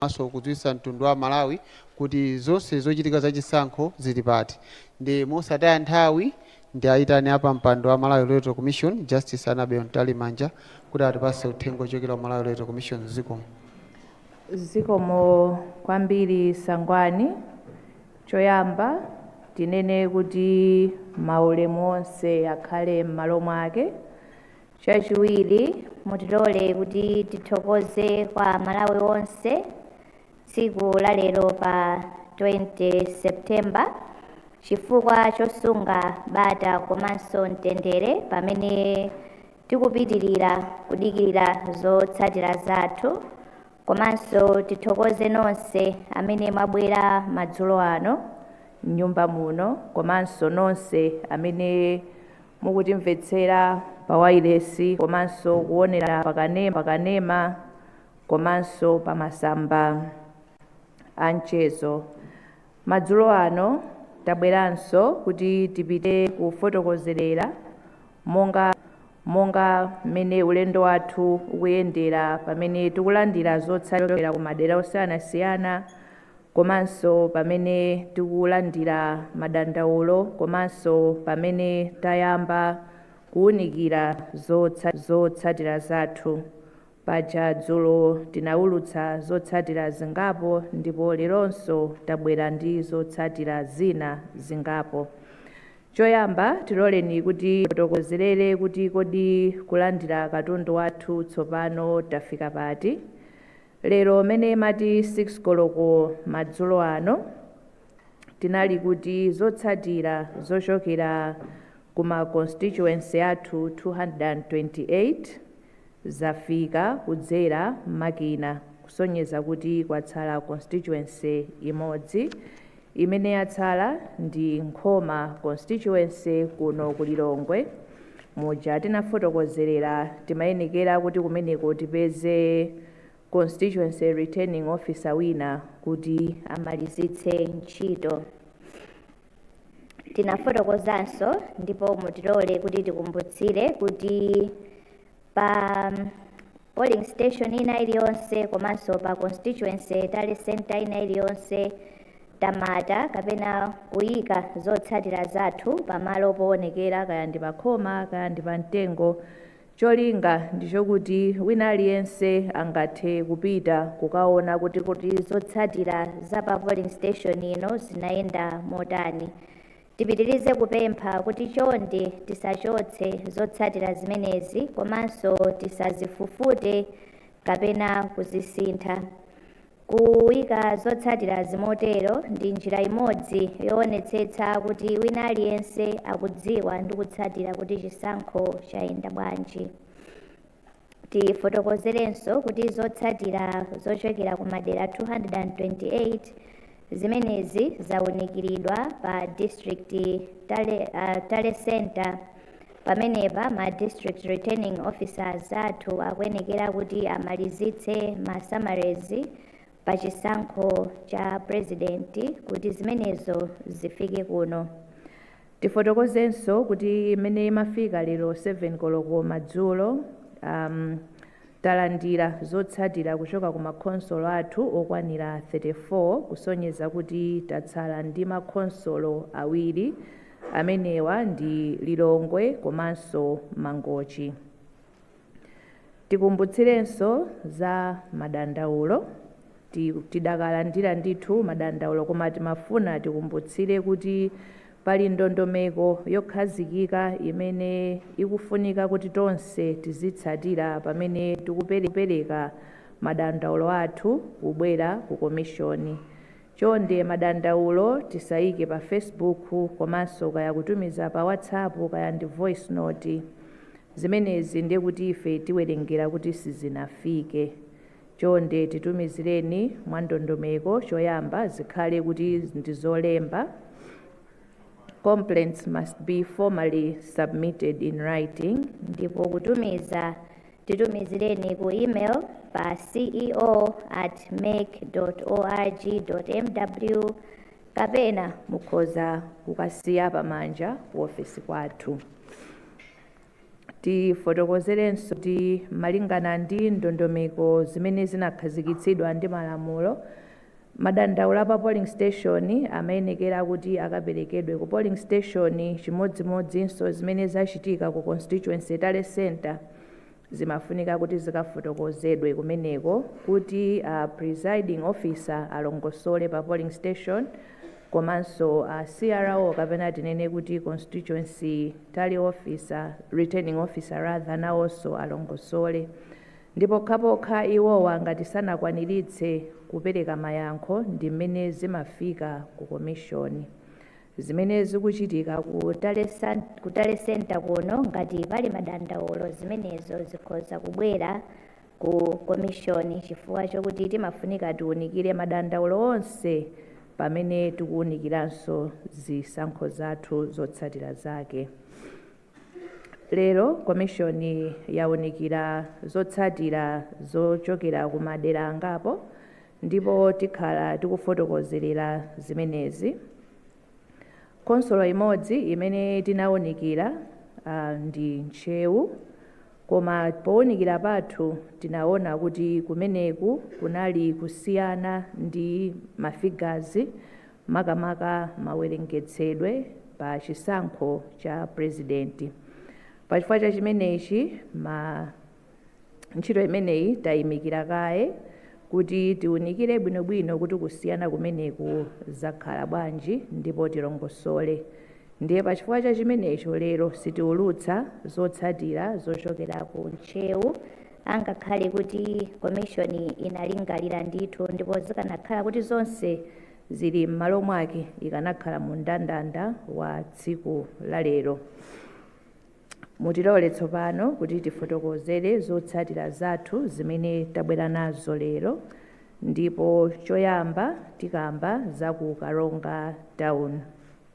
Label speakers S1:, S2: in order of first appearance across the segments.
S1: komanso kudziwitsa mtundu wa Amalawi kuti zonse zochitika za chisankho zili pati ndi mosataya nthawi ndiayitane a pampando wa Malawi Electoral Commission Justice Annabel Mtalimanja kuti atipatse uthenga ochokera ku Malawi Electoral Commission. Zikomo.
S2: Zikomo kwambiri Sangwani. Choyamba tinene kuti maulemu onse akhale m'malo mwake. Chachiwiri, mutilole kuti tithokoze kwa a Malawi onse tsiku la lero pa 20 September chifukwa chosunga bata komanso mtendere pamene tikupitilira kudikilira zotsatira zathu komanso tithokoze nonse amene mwabwera madzulo ano mnyumba muno komanso nonse amene mukutimvetsera pa wailesi komanso kuonera pa kanema komanso pa masamba a mchezo. Madzulo ano tabweranso kuti tipite kufotokozerera monga mmene ulendo wathu ukuyendera pamene tikulandira zotsatira kumadera osiyanasiyana komanso pamene tikulandira madandaulo komanso pamene tayamba kuunikira zotsatira zathu. Paja dzulo tinaulutsa zotsatira zingapo ndipo leronso tabwera ndi zotsatira zina zingapo. Choyamba tiloleni kuti tifotokozerere kuti kodi kulandira katundu wathu tsopano tafika pati. Lero mmene imati 6 koloko madzulo ano, tinali kuti zotsatira zochokera ku ma constituency athu 228 zafika kudzera makina kusonyeza kuti kwatsala constituency imodzi imene yatsala ndi Nkhoma constituency kuno ku Lilongwe muja tinafotokozerera timayenekera kuti kumeneko tipeze constituency returning officer wina kuti amalizitse ntchito. Tinafotokozanso ndipo mutilole kuti tikumbutsire kuti pa polling station ina iliyonse komanso pa constituency tally center ina iliyonse tamata kapena kuyika zotsatira zathu pamalo poonekera kaya ndi pakhoma kaya ndi pamtengo cholinga ndi chokuti wina aliyense angathe kupita kukaona kuti kuti zotsatira za pa polling station ino zinayenda motani Tipitirize kupempha kuti chonde tisachotse zotsatira zimenezi komanso tisazifufute kapena kuzisintha. Kuika zotsatira zimotero ndi njira imodzi yoonetsetsa kuti wina aliyense akudziwa ndi kutsatira kuti chisankho chayenda bwanji. Tifotokozerenso kuti zotsatira zochokera ku madera 228 zimenezi zaunikiridwa pa district tally, uh, tally center pamenepa ma district returning officers athu akuyenekera kuti amalizitse ma summaries pa chisankho cha president kuti zimenezo zifike kuno Tifotokozenso kuti mmene imafika lero 7 koloko madzulo um, talandira zotsatira kuchoka ku makhonsolo athu okwanira 34 kusonyeza kuti tatsala ndi makhonsolo awiri amenewa ndi Lilongwe komanso Mangochi. Tikumbutsirenso za madandaulo. Tidakalandira ndithu madandaulo koma timafuna tikumbutsire kuti pali ndondomeko yokhazikika imene ikufunika kuti tonse tizitsatira pamene tikupereka madandaulo athu kubwera ku komishoni. Chonde madandaulo tisaike pa Facebook komanso kaya kutumiza pa WhatsApp kaya ndi voice note. Zimenezi ndiye kuti ife tiwerengera kuti sizinafike. Chonde titumizireni mwa ndondomeko choyamba zikhale kuti ndi zolemba Complaints must be formally submitted in writing, ndipo kutumiza titumizireni ku email pa ceo at mec org mw kapena mukhoza kukasiya pamanja ku ofesi kwathu. Tifotokozerenso
S3: kuti malingana ndi ndondomeko zimene zinakhazikitsidwa ndi malamulo, madandaulo a pa polling station amayenekera kuti akaperekedwe ku polling station chimodzimodzinso zimene zachitika ku constituency tally centre. Zimafunika kuti zikafotokozedwe kumeneko kuti a presiding officer alongosole pa polling station komanso a CRO kapena tinene kuti constituency tally officer, returning officer rather, nawonso alongosole. Ndi pokhapokha iwowa ngati sanakwaniritse kupereka mayankho ndi mmene zimafika ku komishoni. zimene zikuchitika ku tally cen, ku tally center kuno ngati pali madandaulo zimenezo zikhoza kubwera ku komishoni chifukwa chokuti timafunika tiunikire madandaulo onse pamene tikuunikiranso zisankho zathu zotsatira zake Lero Komishoni yaunikira zotsatira zochokera ku madera angapo ndipo tikhala tikufotokozerera zimenezi. Khonsolo imodzi imene tinaunikira ah, ndi Ntcheu koma pounikira pathu tinaona kuti kumeneku kunali kusiyana kwa mafigazi makamaka mawerengetsedwe pa chisankho cha purezidenti. Pa chifukwa cha chimenechi, ma ntchito imeneyi tayimika kaye kuti tiwunikire bwinobwino kuti kusiyana kumeneku zakhala bwanji ndipo tilongosole. Ndiye pa chifukwa cha chimenecho lero sitiwulutsa zotsatira zochokera ku Ntcheu Angakhale kuti Komishoni inalingalira ndithu ndipo zikanakhala kuti zonse zili m'malo mwake ikanakhala mu mndandanda wa tsiku la lero. Mutilole tsopano kuti tifotokozere zotsatira zathu zimene tabwera nazo lero ndipo choyamba tikamba za ku Karonga Town.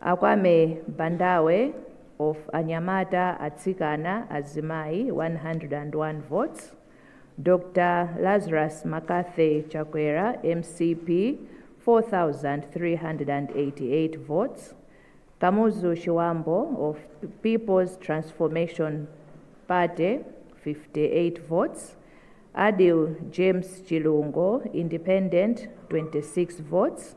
S3: A Kwame Bandawe of Anyamata, Atsikana, Azimayi 101 votes, Dr Lazarus Makathe Chakwera, mcp, 4,388 votes, Kamuzu Chiwambo of Peoples Transformation Party 58 votes, Adil James Chilungo, Independent 26 votes,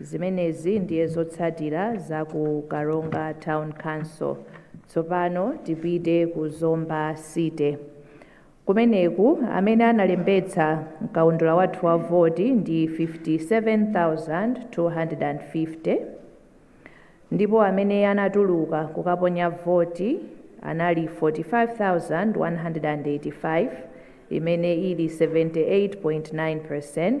S3: Zimenezi ndiye zotsatira za ku Karonga Town Council. Tsopano tipite ku Zomba City. Kumeneku amene analembetsa mkaundula wathu wa voti ndi 57,250 ndipo amene anatuluka kukaponya voti anali 45,185 imene ili 78.9%.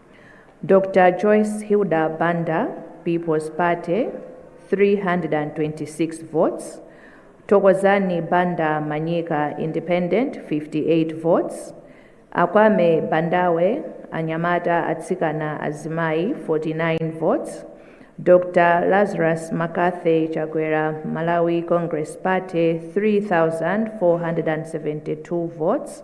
S3: Dr. Joyce Hilda Banda, People's Party, 326 votes. Thokozani Banda Manyika, Independent, 58 votes. Akwame Bandawe, Anyamata Atsikana Azimai, 49 votes. Dr. Lazarus Makathe Chakwera, Malawi Congress Party, 3,472 votes.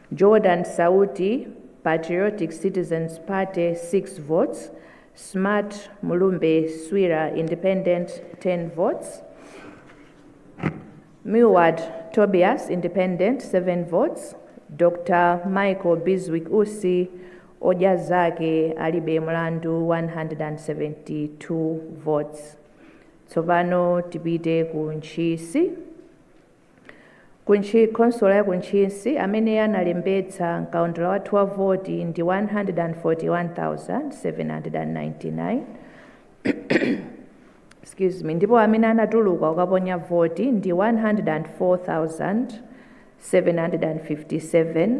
S3: Jordan Sauti, Patriotic Citizens Party 6 votes, Smart Mulumbe Swira Independent 10 votes, Milward Tobias Independent 7 votes, Dr Michael Bizwick Usi Odya Zake Alibe Mlandu 172 votes. Tsopano tipite ku Ntchisi. Ku Ntchi, Khonsolo ya ku Ntchisi amene analembetsa m'kaundula wathu wa voti ndi 141,799, Excuse me, ndipo amene anatuluka kukaponya voti ndi 104,757,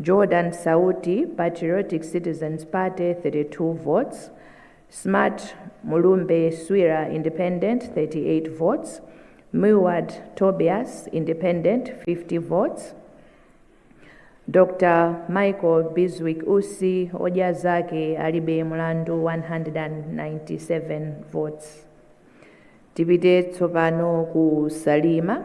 S3: Jordan Sauti, Patriotic Citizens Party 32 votes, Smart Mulumbe Swira Independent 38 votes, Milward Tobias Independent 50 votes, Dr. Michael Biswick Usi odya zake alibe mlandu 197 votes. Tipite tsopano ku Salima.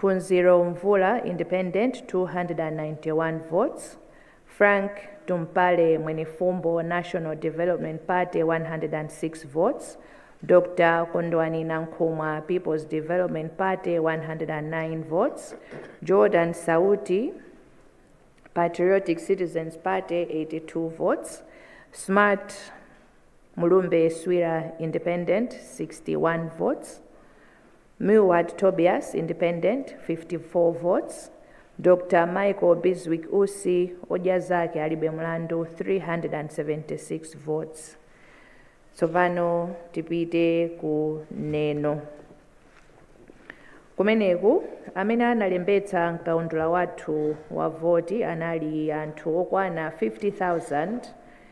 S3: Phunziro Mvula Independent 291 votes Frank Tumpale Mwenifumbo National Development Party 106 votes Dr Kondwani Nankhumwa Peoples Development Party 109 votes Jordan Sauti Patriotic Citizens Party 82 votes Smart Mulumbe Swira Independent 61 votes Milward Tobias, Independent, 54 votes, Dr Michael Bizwick Usi, Odya Zake Alibe Mlandu, 376 votes. Tsopano tipite ku Neno. Kumeneku amene analembetsa mkaundula wathu wa voti anali anthu okwana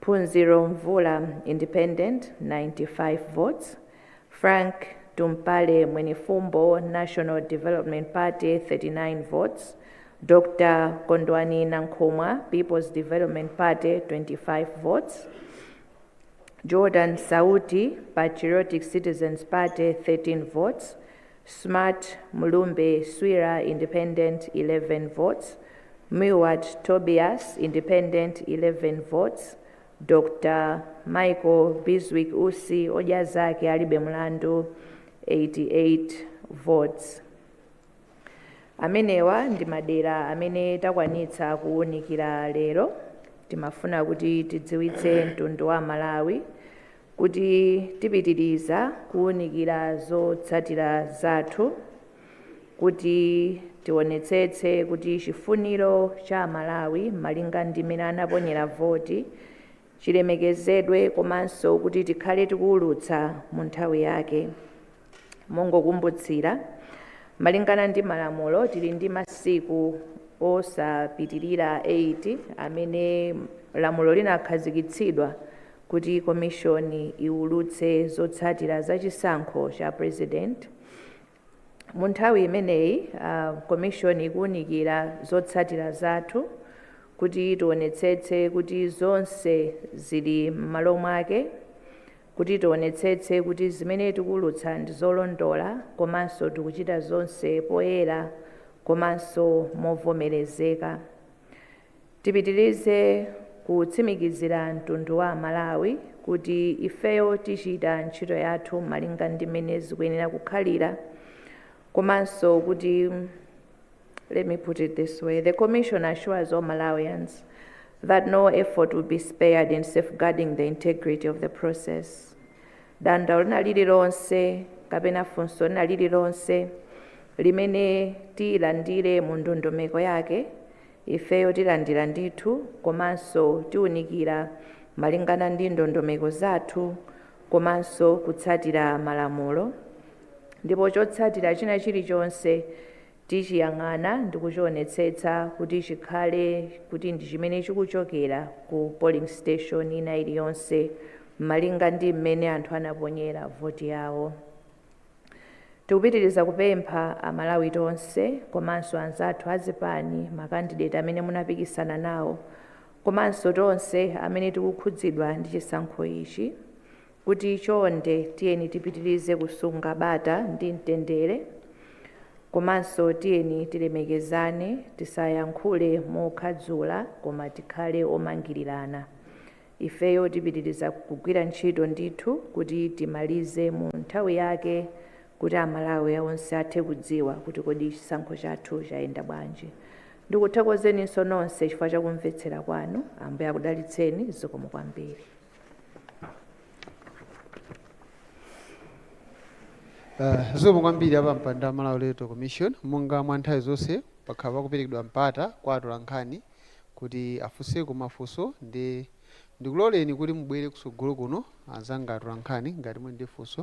S3: Phunziro Mvula Independent 95 votes, Frank Tumpale Mwenifumbo National Development Party 39 votes, Dr Kondwani Nankhumwa People's Development Party 25 votes, Jordan Sauti Patriotic Citizens Party 13 votes, Smart Mlumbe Swira, Independent, 11 votes, Milward Tobias, Independent, 11 votes, Dr Michael Bizwick Usi, Odya Zake Alibe Mlandu, 88 votes. Amenewa ndi madera amene takwanitsa kuwunikira lero. Timafuna kuti tidziwitse mtundu wa Malawi kuti tipitiriza kuwunikira zotsatira zathu kuti tionetsetse kuti chifuniro cha Amalawi malinga ndi mmene anaponyera voti chilemekezedwe komanso kuti tikhale tikuwulutsa mu nthawi yake. Mongokumbutsira, malingana ndi malamulo, tili ndi masiku osapitilira 8 amene lamulo linakhazikitsidwa kuti komishoni iwulutse zotsatira za chisankho cha purezidenti. Mu nthawi imeneyi, komishoni ikuwunikira zotsatira zathu kuti tionetsetse kuti zonse zili m'malo mwake. Kuti tionetsetse kuti zimene tikuwulutsa ndi zolondola komanso tikuchita zonse poyera komanso movomerezeka. Tipitirize kutsimikizira mtundu wa Amalawi kuti ifeyo tichita ntchito yathu malinga ndi mmene zikuyenera kukhalira komanso kuti. Let me put it this way. The Commission assures all Malawians that no effort will be spared in safeguarding the integrity of the process. Dandaulo lina lililonse kapena funso lina lililonse limene tilandire mu ndondomeko yake ifeyo tilandira ndithu komanso tiwunikira malingana ndi ndondomeko zathu komanso kutsatira malamulo Ndipo chotsatira china chilichonse tichiyang'ana ndi kuchionetsetsa kuti chikhale kuti ndi chimene chikuchokera ku polling station ina iliyonse malinga ndi mmene anthu anaponyera voti yawo. Tikupitiriza kupempha Amalawi tonse komanso anzathu a zipani, ma candidate amene munapikisana nawo komanso tonse amene tikukhudzidwa ndi chisankho ichi, kuti chonde tiyeni tipitirize kusunga bata ndi mtendere komanso tiyeni tilemekezane, tisayankhule mokhadzula koma tikhale omangirirana. Ifeyo tipitiriza kugwira ntchito ndithu kuti timalize mu nthawi yake kuti Amalawi onse athe kudziwa kuti kodi chisankho chathu chayenda bwanji. Ndikuthokozeninso nonse chifukwa cha kumvetsera kwanu. Ambuye akudalitseni. Zikomo kwambiri.
S1: Uh, zikomo kwambiri apampando wa Malawi Electoral Commission monga mwa nthawi zonse pakhala pakuperekedwa mpata kwa atolankhani kuti afunseko mafunso ndi ndikuloleni kuti mubwere kutsogolo kuno anzanga atolankhani ngati muli ndi funso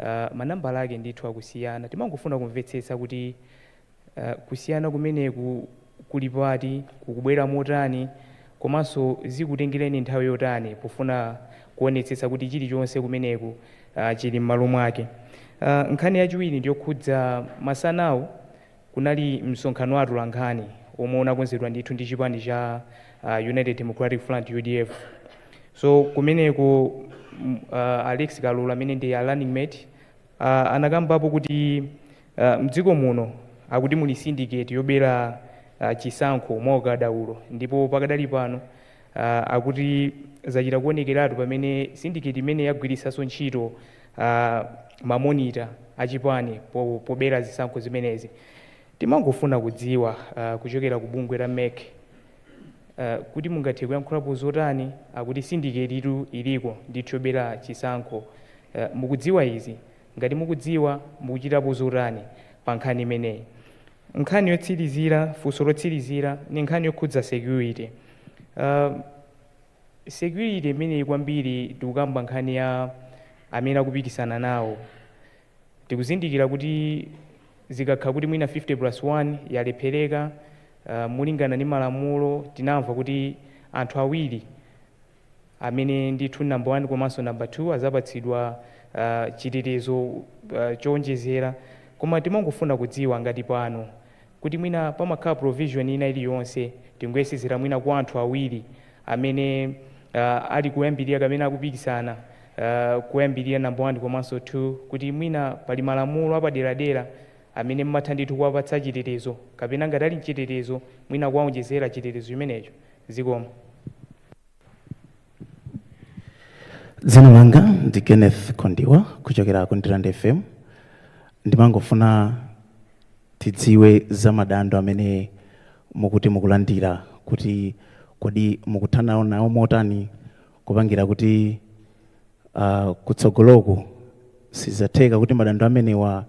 S4: uh manambala ake ndithu akusiyana timangofuna kumvetsetsa kuti uh kusiyana kumeneku kuli pati, kukubwera motani komanso zikutengereni nthawi yotani pofuna kuonetsetsa kuti chilichonse kumeneku uh chili mmalo mwake uh nkhani yachiwiri ndiyokhudza masanawu, Kunali msonkhano wa atolankhani womwe unakonzedwa ndithu ndi chipani cha United Democratic Front, udf. So kumeneko a Rex Kalolo amene ndi a running mate anakambapo kuti mdziko muno akuti muli syndicate yobera chisankho mwa ukadaulo ndipo pakadali pano akuti zachita kuonekeratu pamene syndicate imeneyi yagwiritsanso ntchito ma monitor achipani pobera zisankho zimenezi. Timangofuna kudziwa kuchokera ku bungwe la mec kuti mungathe kuyankhulapo zotani? Akuti syndicate yitu iliko ndithu yobera chisankho. Mukudziwa izi? Ngati mukudziwa, mukuchitapo zotani pa nkhani imeneyi? Nkhani yotsirizira, funso lotsirizira ndi nkhani yokhudza security. security imeneyi kwambiri tikukamba nkhani ya amene akupikisana nawo tikuzindikira kuti zikakhala kuti mwina 50 plus 1 yalephereka uh, mulingana ndi malamulo tinamva kuti anthu awiri amene ndithu number 1 komanso number 2 azapatsidwa uh, chitetezo uh, chowonjezera koma timangofuna kudziwa ngati pano kuti mwina pamakhala provision ina iliyonse tingoyesezera mwina kwa anthu awiri amene uh, ali kuyambirira kapena akupikisana uh, kuyambirira number 1 komanso 2 kuti mwina pali malamulo apaderadera amene mmatha ndithu kuwapatsa chitetezo kapena ngati ali mchitetezo mwina kuwaonjezera chitetezo chimenecho zikomo
S5: dzina langa ndi kenneth kondiwa kuchokera ku ndirande fm ndimangofuna tidziwe za madando amene mukuti mukulandira kuti kodi mukuthana nawo motani kupangira kuti uh, kutsogoloku sizatheka kuti madando amenewa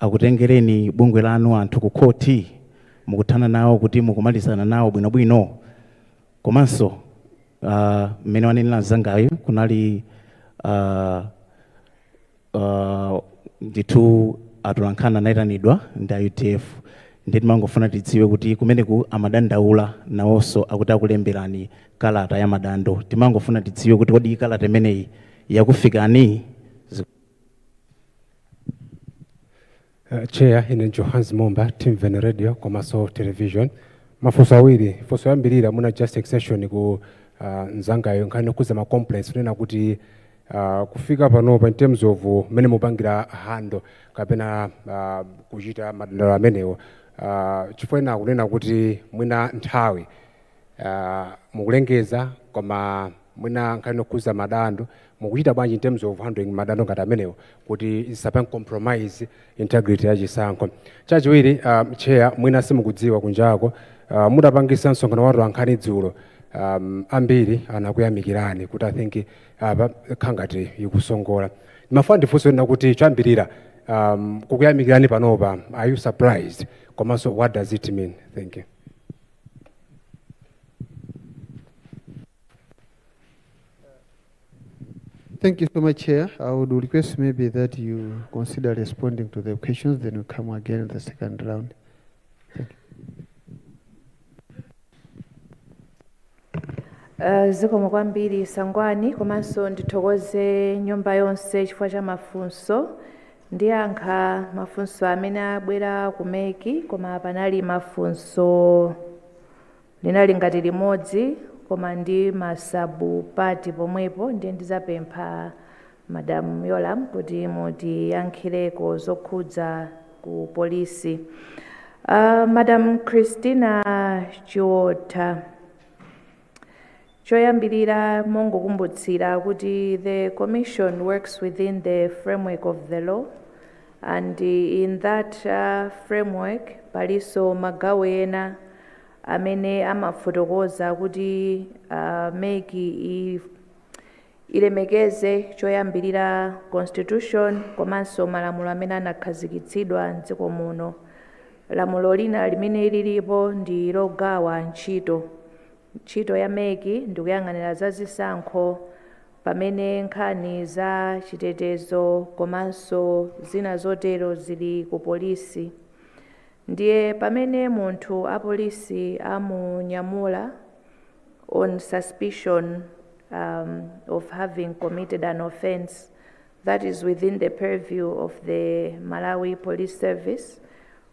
S5: akutengereni bungwe lanu anthu ku khoti mukuthana nawo kuti mukumalizana nawo bwinobwino komanso ah, mmene wanenera mzangayo kunali ah, ah, ndithu atolankhani anayitanidwa ndi a udf ndiye timangofuna tidziwe kuti kumeneku amadandaula nawonso akuti akulemberani kalata ya madando timangofuna tidziwe kuti kodi kalata imeneyi yakufikani
S6: Chair ine ndi Johannes Momba Timveni Radio komaso Television mafunso awiri funso yoyambilira mwina just extension ku nzangayo nkhani yokhuza ma complaints kunena kuti kufika panopa in terms of mmene mukupangira handle kapena kuchita madandaulo amenewo chifukwa ena akunena kuti mwina nthawi mukulengeza koma mwina nkhani yokhuza madando Mukuchita bwanji in terms of handling madando ngati amenewo kuti zisapange compromise integrity ya chisankho? Chachiwiri, um, chair mwina simukudziwa kunjako, uh, mutapangisa msonkhano wa atolankhani dzulo, um, ambiri anakuyamikirani kuti I think apa uh, kangati ikusongola. Mafuna ndifunse kunena kuti chayambira um, kukuyamikirani panopa, are you surprised? Komanso what does it mean? Thank you.
S1: Thank you so much, Chair. I would request maybe that you consider responding to the questions, then we come again in the second round. Thank Uh, zikomo
S3: kwambiri Sangwani komanso ndithokoze nyumba yonse chifukwa cha mafunso ndiyankha mafunso amene abwera ku MEC koma panali mafunso Linali ngati limodzi koma ndi ma sub parts pomwepo ndiye ndizapempha madam Yolamu kuti mutiyankhireko zokhudza ku polisi aah madam Christina Chiwotha. Choyambirira mongokumbutsira kuti the Commission works within the framework of the law and in that framework palinso magawo ena amene amafotokoza kuti mec ilemekeze choyambirira constitution komanso malamulo amene anakhazikitsidwa m'dziko muno. Lamulo lina limene lilipo ndi logawa ntchito. Ntchito ya mec ndikuyang'anira za zisankho pamene nkhani za chitetezo komanso zina zotero zili ku polisi. Ndiye pamene munthu apolisi amunyamula on suspicion of having committed an offence that is within the purview of the Malawi Police Service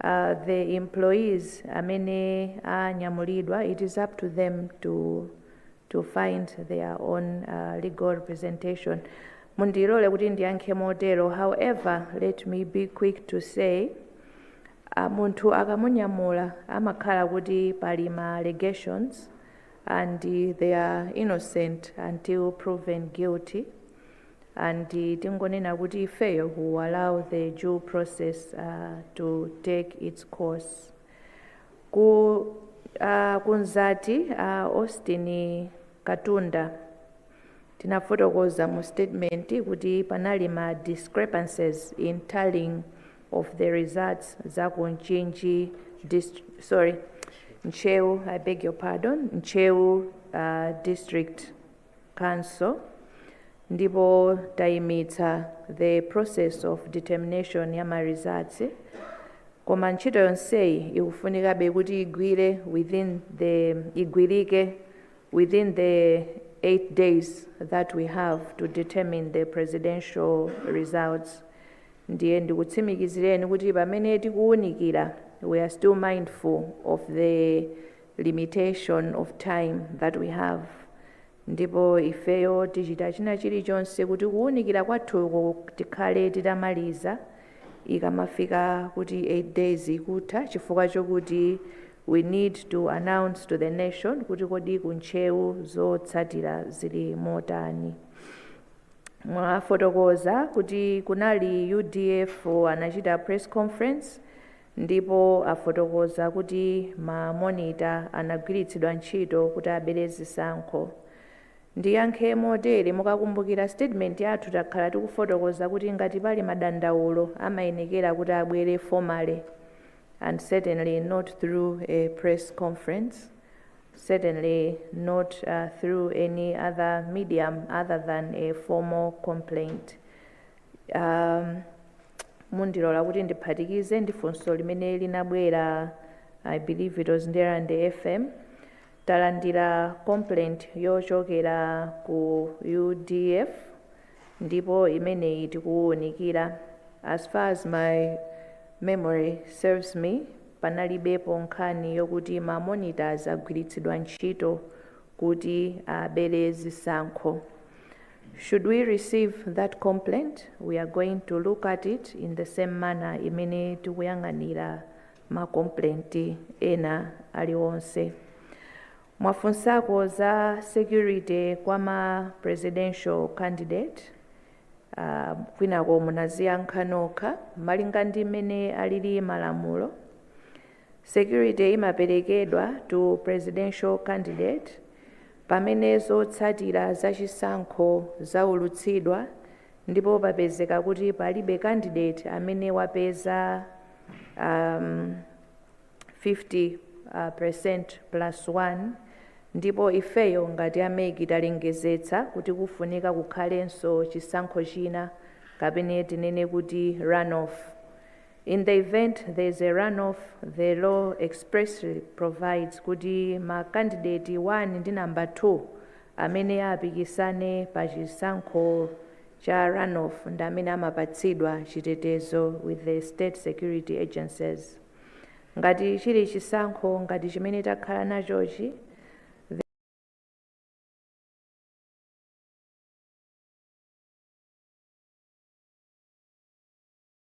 S3: a the employees amene anyamulidwa it is up to them to to find their own uh, legal representation mundilole kuti ndiyankhe motero however let me be quick to say uh, munthu akamunyamula amakhala kuti pali ma allegations and they are innocent until proven guilty and tingonena kuti ifeyo we'll allow the due process to take its course ku kunzati a Austin Katunda tinafotokoza mu statement kuti panali ma discrepancies in tallying of the results za ku Mchinji sorry Ntcheu I beg your pardon Ntcheu uh, district Council ndipo tayimitsa the process of determination ya ma results koma ntchito yonseyi ikufunikabe kuti igwire within the igwirike within the 8 days that we have to determine the presidential results ndiye ndikutsimikizireni kuti pamene tikuwunikira we are still mindful of the limitation of time that we have ndipo ifeyo tichita china chilichonse kuti kuwunikira kwathuko tikhale titamaliza ikamafika kuti 8 days ikutha chifukwa chokuti we need to announce to the nation kuti kodi ku Ntcheu zotsatira zili motani mwafotokoza kuti kunali udf anachita press conference ndipo afotokoza kuti ma monita anagwiritsidwa ntchito kuti abere zisankho. Ndiyankhe motere, mukakumbukira statement yathu takhala tikufotokoza kuti ngati pali madandaulo amayenekera kuti abwere formally and certainly not through a press conference, certainly not through any other medium other than a formal complaint. Um, mundilole kuti ndiphatikize ndi funso limene linabwera i believe it was Ndirande FM talandira complaint yochokera ku udf ndipo imeneyi tikuwunikira as far as my memory serves me panalibepo nkhani yokuti ma monitors agwiritsidwa ntchito kuti abere zisankho Should we receive that complaint, we are going to look at it in the same manner imene tikuyang'anira ma complaint ena aliwonse. Mwafunsako za security kwa ma presidential candidate uh, kwinako munaziyankha nokha malinga ndi mmene alili malamulo Security imaperekedwa to presidential candidate pamene zotsatira za chisankho zaulutsidwa ndipo papezeka kuti palibe candidate amene wapeza um, 50% uh, plus 1 ndipo ifeyo ngati a MEC talengezetsa kuti kufunika kukhalenso chisankho china kapena tinene kuti runoff In the event there is a runoff, the law expressly provides kuti ma kandideti 1 ndi number 2 amene apikisane pa chisankho cha runoff ndi amene amapatsidwa chitetezo with the state security agencies. Ngati chili chisankho ngati chimene takhala nachochi,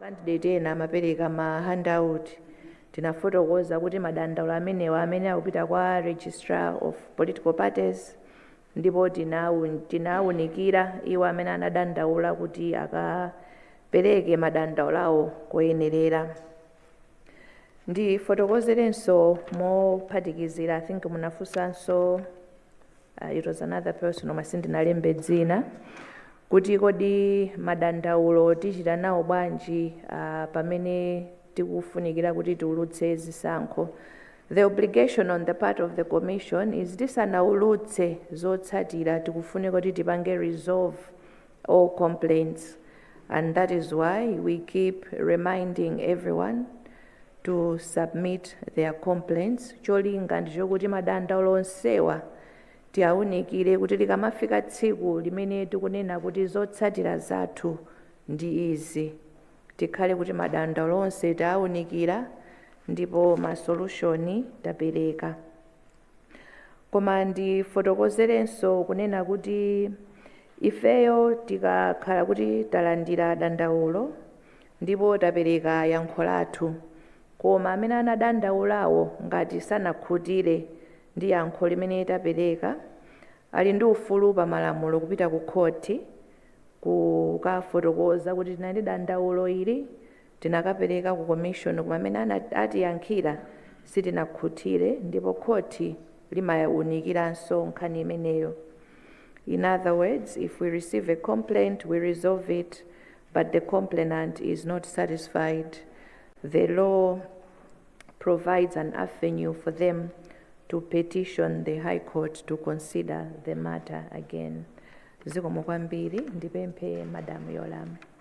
S3: Makandideti ena amapereka ma handout. Tinafotokoza kuti madandaulo amenewa amene akupita kwa Registrar of Political Parties ndipo tinawunikira iwo amene anadandaula kuti akapereke madandaulo awo koyenerera. ndifotokozerenso mophatikizira i think munafunsanso uh, it was another person koma sindinalembe dzina kuti kodi madandaulo tichita nawo bwanji uh, pamene tikufunikira kuti tiulutse zisankho the obligation on the part of the commission is tisanaulutse zotsatira tikufunika kuti tipange resolve all complaints. And that is why we keep reminding everyone to submit their complaints cholinga ndi chokuti madandaulo onsewa tiawunikire kuti likamafika tsiku limene tikunena kuti zotsatira zathu ndi izi tikhale kuti madandaulo onse taawunikira ndipo masolushoni tapereka Koma ndifotokozerenso kunena kuti ifeyo tikakhala kuti talandira dandaulo ndipo tapereka yankho lathu, koma amene anadandaulawo ngati sanakhutire ndi yankho limene tapereka, ali ndi ufulu pa malamulo kupita kukhoti kukafotokoza kuti tinali ndi dandaulo ili Tinakapereka ku Commission koma mene atiyankhira sitinakhutire ndipo khoti limaunikiranso nkhani imeneyo. In other words, if we receive a complaint, we resolve it but the complainant is not satisfied, the law provides an avenue for them to petition the High Court to consider the matter again. Zikomo kwambiri, ndipemphe Madam Yolamu.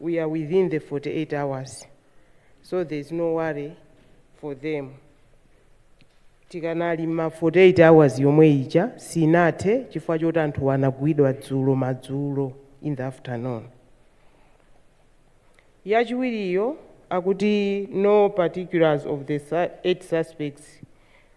S7: we are within the 48 hours so there is no worry for them tikanali m'ma 48 hours yomwe ija sinathe chifukwa choti anthu anagwidwa dzulo madzulo in the afternoon yachiwiriyo akuti no particulars of the su- eight suspects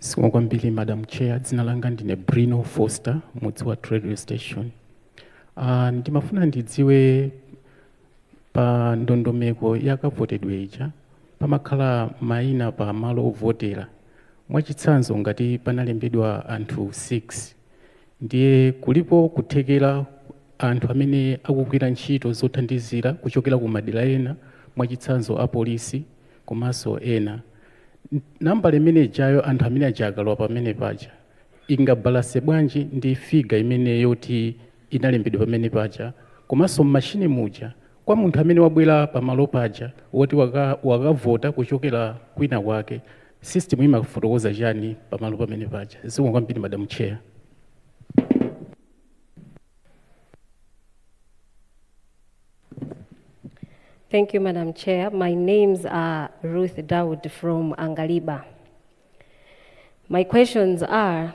S5: Zikomo kwambiri Madam Chair, dzina langa ndine Bruno Foster, Mudziwathu Radio Station. Uh, ndimafuna ndidziwe pa ndondomeko ya kavotedwe ija pamakhala maina pa malo ovotera mwachitsanzo ngati panalembedwa anthu 6 Ndiye kulipo kuthekera
S8: anthu amene akugwira ntchito zothandizira kuchokera ku madera ena mwachitsanzo a polisi komanso ena. Nambala imene ijayo anthu amene aja akalowa pamene paja ingabalanse bwanji ndi figure imene yoti inalembedwa pamene paja komanso mmachine muja kwa munthu amene wabwera pamalo paja woti waka wakavota kuchokera kwina kwake System imafotokoza chani pamalo pamene paja? Zikomo kwambiri Madam Chair.
S9: Thank you, Madam Chair. My names are Ruth Dawood from Angaliba. My questions are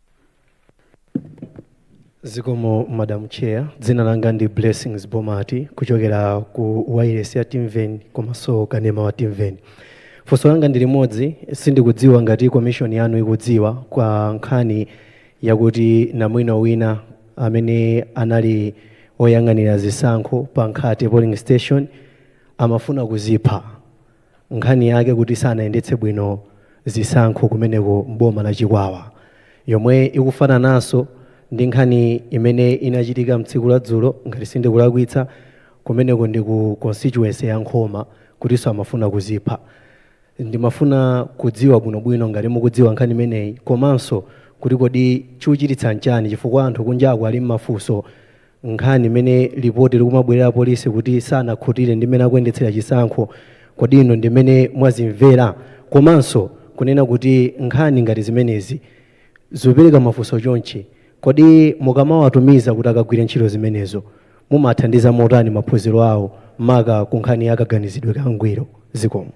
S10: zikomo madam chair dzina langa ndi blessings bomati kuchokera ku wailesi ya timveni komanso kanema wa timveni funso langa ndi limodzi sindikudziwa ngati komishoni yanu ikudziwa kwa nkhani yakuti namwino wina amene anali oyang'anira zisankho pa nkhate polling station amafuna kudzipha nkhani yake kuti sanayendetse bwino zisankho kumeneko m'boma la Chikwawa yomwe ikufanananso ndi nkhani imene inachitika mtsiku la dzulo ngati sindikulakwitsa kumeneko ndi ku constituency ya Nkhoma kutinso amafuna kudzipha. Ndimafuna kudziwa bwinobwino ngati mukudziwa nkhani imeneyi komanso kuti kodi chikuchititsa nchani chifukwa anthu kunjaku ali mmafunso nkhani imene lipoti likumabwerera apolisi kuti sanakhutire ndi mmene akuyendetsera chisankho kodi inu ndi mmene mwazimvera komanso kunena kuti nkhani ngati zimenezi zopereka mafunso chonchi kodi mukamawatumiza kuti akagwire ntchito zimenezo mumathandiza motani maphunziro awo maka ku nkhani ya kaganizidwe ka ngwiro zikomo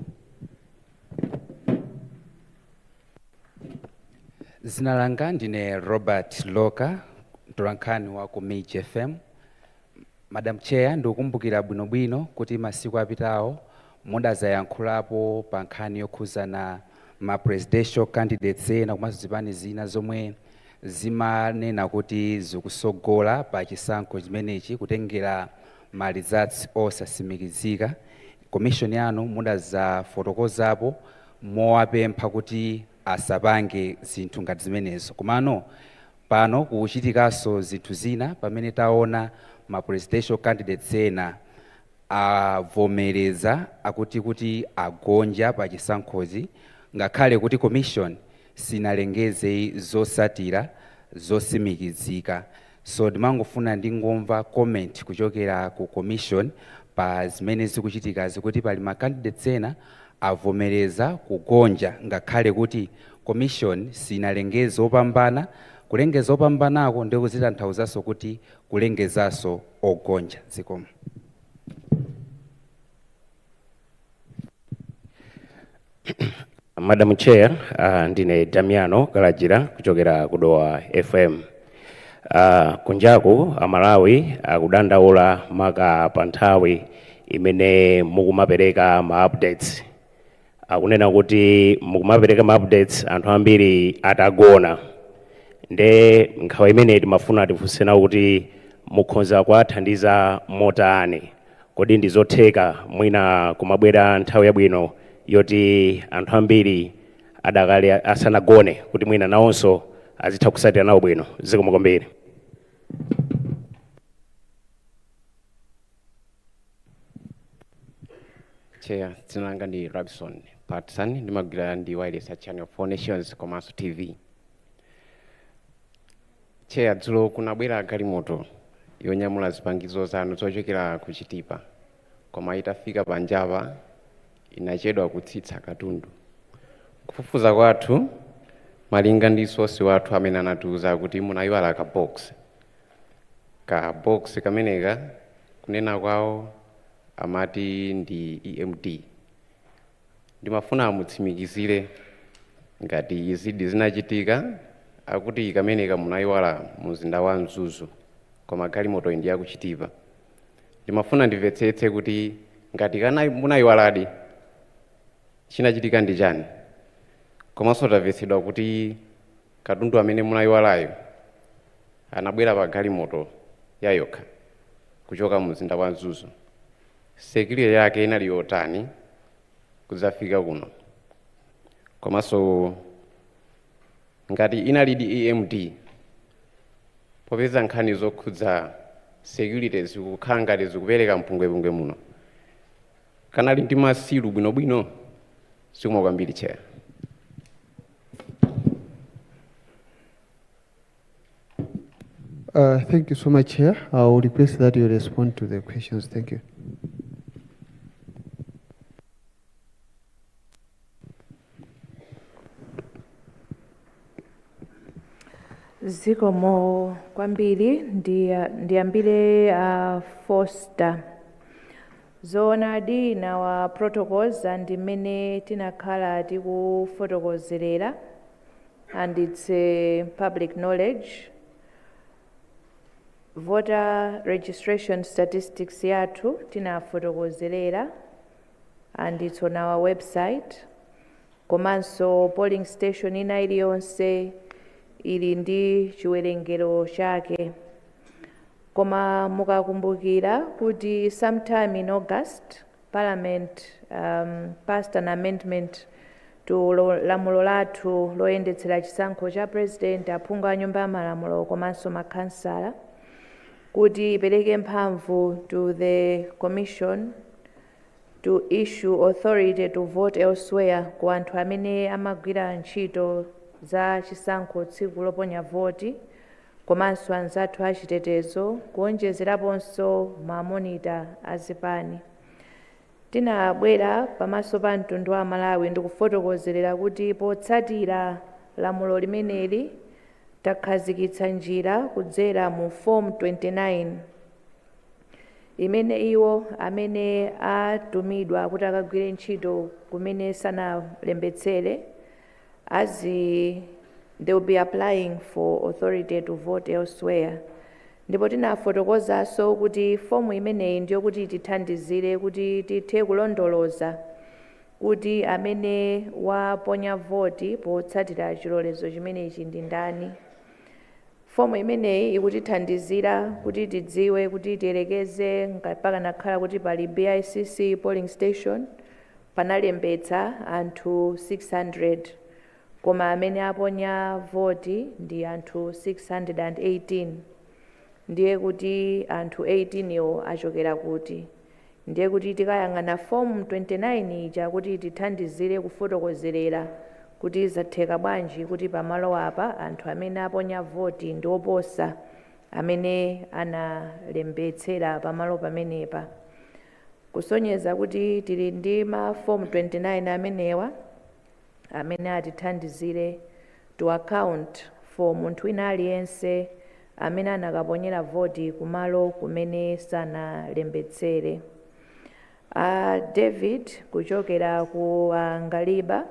S11: zina langa ndine robert loka mtolankhani wa ku mij fm madam chair ndikukumbukira bwinobwino kuti masiku apitawo mudazayankhulapo pa nkhani yokhuzana ma presidential candidates ena komanso zipani zina zomwe zimanena kuti zikusogola pa chisankho chimenechi kutengera ma results osasimikizika Commission yanu mudazafotokozapo mowapempha kuti asapange zinthu ngati zimenezo komano pano kuchitikaso zinthu zina pamene taona ma presidential candidates ena avomereza akuti kuti agonja pa chisankhozi ngakhale kuti commission sinalengeze zosatira zosimikizika so ndimangofuna ndingomva comment kuchokera ku commission pa zimene zikuchitikazi kuti pali ma candidates ena avomereza kugonja ngakhale kuti commission sinalengeze opambana kulengeza opambanako ndiko zitanthauzaso kuti kulengezaso ogonja zikomo.
S12: Madam Chair, uh, ndine Damiano Kalajira kuchokera ku Dowa FM. Uh, kunjaku Amalawi akudandaula maka pa nthawi imene mukumapereka ma updates. Akunena kuti mukumapereka ma updates anthu ambiri atagona. Nde nkhawa imene timafuna tifunse nawo kuti mukhonza kuwathandiza motani. Kodi ndi zotheka mwina kumabwera nthawi yabwino yoti anthu ambiri adakali asanagone kuti mwina nawonso azitha kusatira nawo bwino? Zikomo kwambiri.
S13: Chair, dzina langa ndi Robson Patson ndimagwira ndi wireless ya Channel for All Nations komanso TV. Tcheya dzulo kunabwera galimoto yonyamula zipangizo zanu zochokera ku Chitipa koma itafika panjapa inachedwa kutsitsa katundu. Kufufuza kwathu malinga ndi sosi wathu amene anatiuza kuti munayiwala ka box. Ka box kameneka kunena kwawo amati ndi EMD. Ndimafuna mutsimikizire ngati izidi zinachitika, akuti kameneka munayiwala mu mzinda wa Mzuzu koma galimotoyi ndi ya ku Chitipa. Ndimafuna ndimvetsetse kuti ngati kanayi munayiwaladi chinachitika ndi chani? Komanso tamvetsedwa kuti katundu amene munayiwalayo anabwera pa galimoto yayokha kuchoka mu mzinda wa Mzuzu. security yake inali yotani kudzafika kuno komanso ngati inalidi EMD popeza nkhani zokhudza security zikukhala ngati zikupereka mpungwepungwe muno kanali ndi masilu bwinobwino zikomo kwambiri Chair
S14: Uh, thank you so much, Chair. I will request that you respond to the questions. Thank
S3: you. zikomo kwambiri ndiya- ndiyambire a foster zoonadi in our protocols ndi mmene tinakhala tikufotokozerera and it's a public knowledge voter registration statistics yathu tinafotokozerera and it's on our website komanso polling station ina iliyonse ili ndi chiwerengero chake koma mukakumbukira kuti sometime in august parliament um, passed an amendment to lamulo lathu loyendetsera chisankho cha President, aphungu a nyumba ya malamulo komanso ma khansala kuti ipereke mphamvu to the commission to issue authority to vote elsewhere ku anthu amene amagwira ntchito za chisankho tsiku loponya voti komanso anzathu a chitetezo kuonjezeraponso ma monitor a zipani. Tinabwera pamaso pa mtundu wa Amalawi ndikufotokozerera kuti potsatira lamulo limeneli takhazikitsa njira kudzera mu Form 29 imene iwo amene atumidwa kuti akagwire ntchito kumene sanalembetsere, azi- they will be applying for authority to vote elsewhere ndipo tinafotokozanso kuti fomu imeneyi ndiyokuti itithandizire kuti tithe kulondoloza kuti amene waponya voti potsatira chilolezo chimenechi ndi ndani fomu imeneyi ikutithandizira kuti tidziwe kuti tiyerekeze pakanakhala kuti pali BICC polling station Panalembetsa anthu 600 koma amene aponya voti ndi anthu 618 ndiye kuti anthu 18 wo achokera kuti? Ndiye kuti tikayang'ana form 29 ija kuti itithandizire kufotokozerera kuti zatheka bwanji kuti pamalo apa anthu amene aponya voti ndi oposa amene analembetsera pamalo pamenepa. Kusonyeza kuti tili ndi ma fomu 29 amenewa amene atithandizire to account for munthu wina aliyense amene anakaponyera voti ku malo kumene sanalembetsere. A David kuchokera ku Angaliba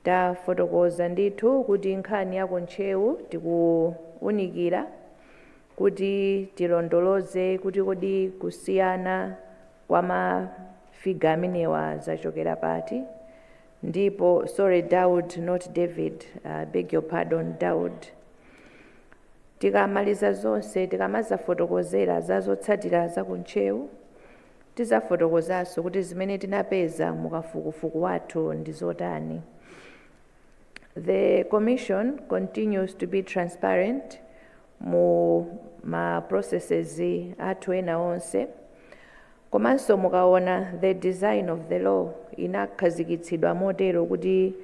S3: tafotokoza ndithu kuti nkhani ya ku Ntcheu tikuunikira Kuti tilondoloze kuti kodi kusiyana kwa ma figure amenewa zachokera pati, ndipo, sorry Daud not David, I beg your pardon Daud, tikamaliza zonse, tikamazafotokozera za zotsatira za ku Ntcheu, tizafotokozanso kuti zimene tinapeza mu kafukufuku wathu ndi zotani. The Commission continues to be transparent mu ma processes athu ena onse. Komanso mukaona the design of the law inakhazikitsidwa motero kuti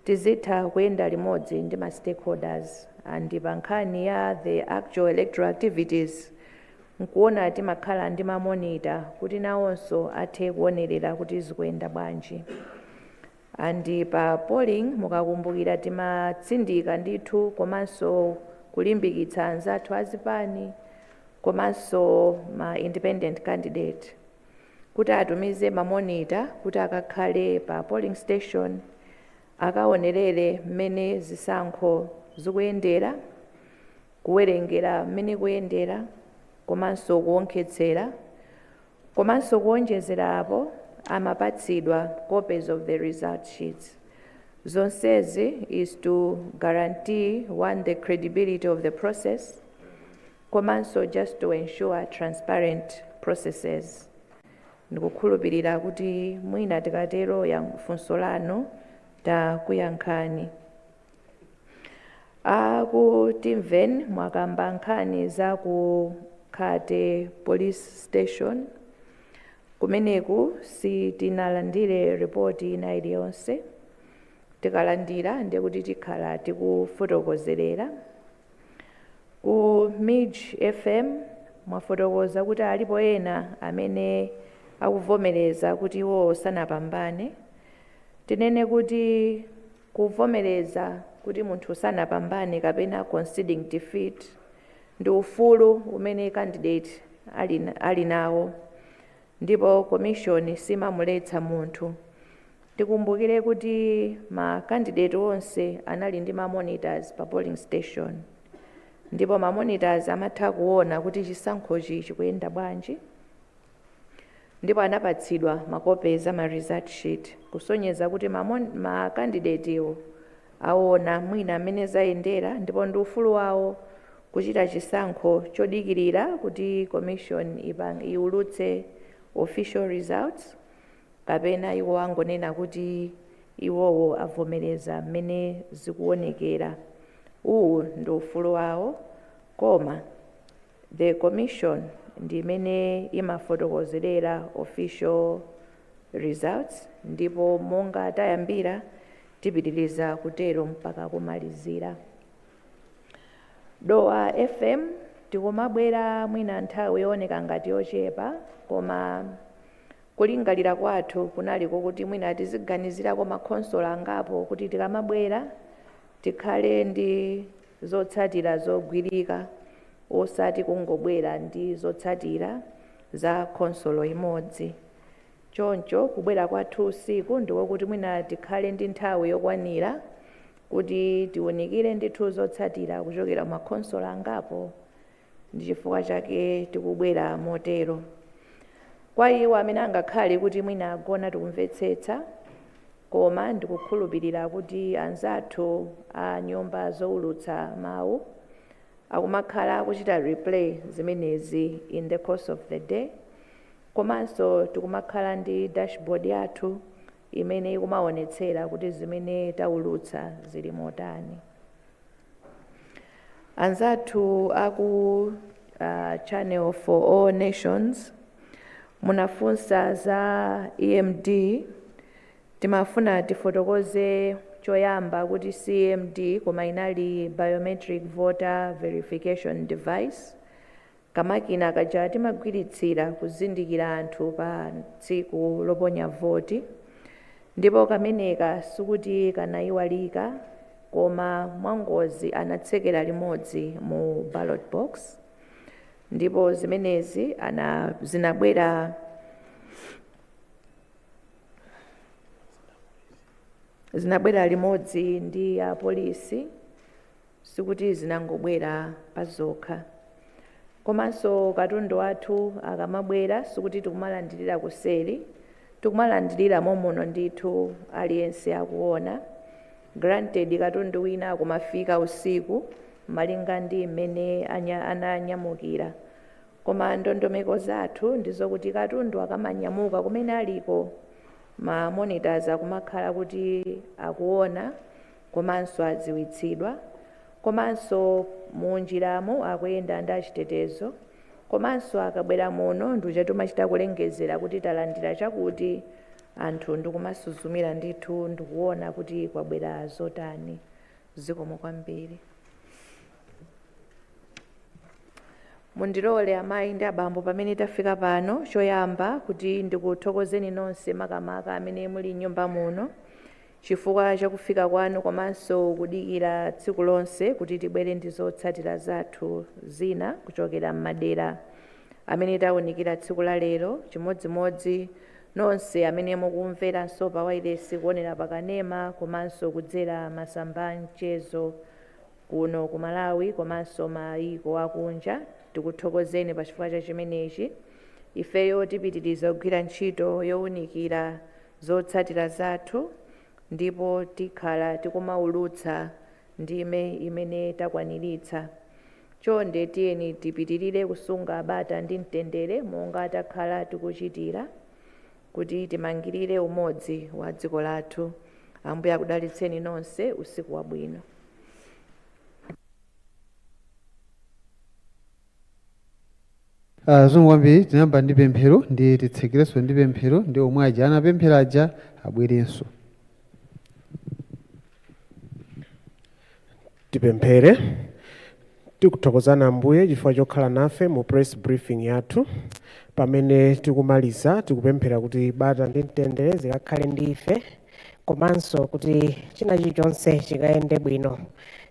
S3: tizitha kuyenda limodzi ndi ma stakeholders and pa nkhani ya the actual electoral activities nkuona timakhala ndi ma monitor kuti nawonso athe kuonerera kuti zikuyenda bwanji. And pa polling mukakumbukira timatsindika ndithu komanso kulimbikitsa anzathu azipani komanso ma independent candidate kuti atumize ma monitor kuti akakhale pa polling station akaonerere mmene zisankho zikuyendera, kuwerengera mmene kuyendera komanso kuonkhetsera Komanso kuonjezera apo, amapatsidwa copies of the result sheets. Zonsezi is to guarantee, one, the credibility of the process komanso just to ensure transparent processes. Ndikukhulupirira kuti mwina tikatero ya funso lanu takuyankhani. A ku Timveni mwakamba nkhani za ku Khate Police Station. Kumeneku sitinalandire report ina iliyonse. Tikalandira ndiye kuti tikhala tikufotokozerera. Ku MIJ FM mwafotokoza kuti alipo ena amene akuvomereza kuti iwo sanapambane. Tinene kuti Kuvomereza kuti munthu sanapambane kapena conceding defeat ndi ufulu umene candidate ali nawo ndipo commission simamuletsa munthu. Tikumbukire kuti ma candidate onse anali ndi ma monitors pa polling station ndipo ma monitors amatha kuona kuti chisankhochi chikuyenda bwanji. ndipo anapatsidwa makope a ma result sheet kusonyeza kuti ma candidate-wo aona mwina mmene zayendera ndipo ndi ufulu wawo kuchita chisankho chodikirira kuti commission iulutse official results kapena iwo angonena kuti iwowo avomereza mmene zikuonekera uwu ndi ufulu wawo koma The Commission ndi imene imafotokozerera official results ndipo monga tayambira tipitiriza kutero mpaka kumalizira. Dowa FM tikumabwera mwina nthawi yooneka ngati yochepa koma kulingalira kwathu kunali kokuti mwina tiziganizirako makhonsolo angapo kuti tikamabwera tikhale ndi zotsatira zogwirika osati kungobwera ndi zotsatira za khonsolo imodzi. Choncho kubwera kwathu usiku ndi kwakuti mwina tikhale ndi nthawi yokwanira kuti tiunikire ndithu zotsatira kuchokera m'makhonsolo angapo Ndi chifukwa chake tikubwera motero. Kwa iwo amene angakhale kuti mwina agona tikumvetsetsa, koma ndikukhulupirira kuti anzathu a nyumba zoulutsa mawu akumakhala akuchita replay zimenezi in the course of the day, komanso tikumakhala ndi dashboard yathu imene ikumaonetsera kuti zimene taulutsa zili motani. anzathu aku uh, channel for all nations munafunsa za EMD timafuna tifotokoze choyamba kuti si EMD koma inali biometric voter verification device Kamakina kaja timagwiritsira kuzindikira anthu pa tsiku loponya voti ndipo kameneka sikuti kanaiwalika koma mwangozi anatsekera limodzi mu ballot box ndipo zimenezi ana zinabwera zinabwera limodzi ndi ya polisi sikuti zinangobwera pazokha. Komanso katundu wathu akamabwera sikuti tikumalandirira kuseri, tikumalandirira momuno ndithu aliyense akuona. Granted katundu wina akumafika usiku malinga ndi mmene anya, ananyamukira. Koma ndondomeko zathu ndizokuti katundu akamanyamuka kumene aliko, ma monitors akumakhala kuti akuona komanso adziwitsidwa komanso munjiramo akuyenda ndi achitetezo komanso akabwera muno ndiuja tumachita kulengezera kuti talandira chakuti anthu ndikumasuzumira ndithu ndikuona kuti kwabwera zotani zikomo kwambiri mundilole amayi ndi abambo pamene tafika pano choyamba kuti ndikuthokozeni nonse makamaka amene muli m'nyumba muno chifukwa cha kufika kwanu komanso kudikira tsiku lonse kuti tibwere ndi zotsatira zathu zina kuchokera m'madera amene taunikira tsiku la lero, chimodzimodzi nonse amene mukumveranso pa wailesi, kuonera pa kanema komanso kudzera masamba a mchezo kuno ku Malawi komanso mayiko akunja. Tikuthokozeni pa chifukwa cha chimenechi. Ifeyo tipitiriza kugwira ntchito younikira zotsatira zathu ndipo tikhala tikumaulutsa ndime imene takwaniritsa. Chonde tiyeni tipitirire kusunga bata ndi mtendere monga takhala tikuchitira kuti timangirire umodzi wa dziko lathu. Ambuye akudalitseni nonse. Usiku wabwino.
S14: Zikomo kwambiri tinayamba ndi pemphero ndiye titsekerenso ndi pemphero ndi omwe aja anapemphera aja abwerenso.
S15: Tipemphere. Tikuthokozani Ambuye chifukwa chokhala nafe mu press briefing yathu. Pamene tikumaliza, tikupemphera kuti bata ndi mtendere zikakhale ndi ife. komanso kuti china chilichonse chikayende bwino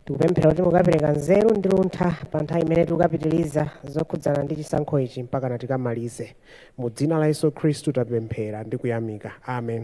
S15: tikupemphera kuti mukapereka nzeru ndi luntha pa nthawi imene tikapitiriza zokhudzana ndi chisankho ichi mpakana tikamalize mu dzina la yesu khristu tapemphera ndi kuyamika amen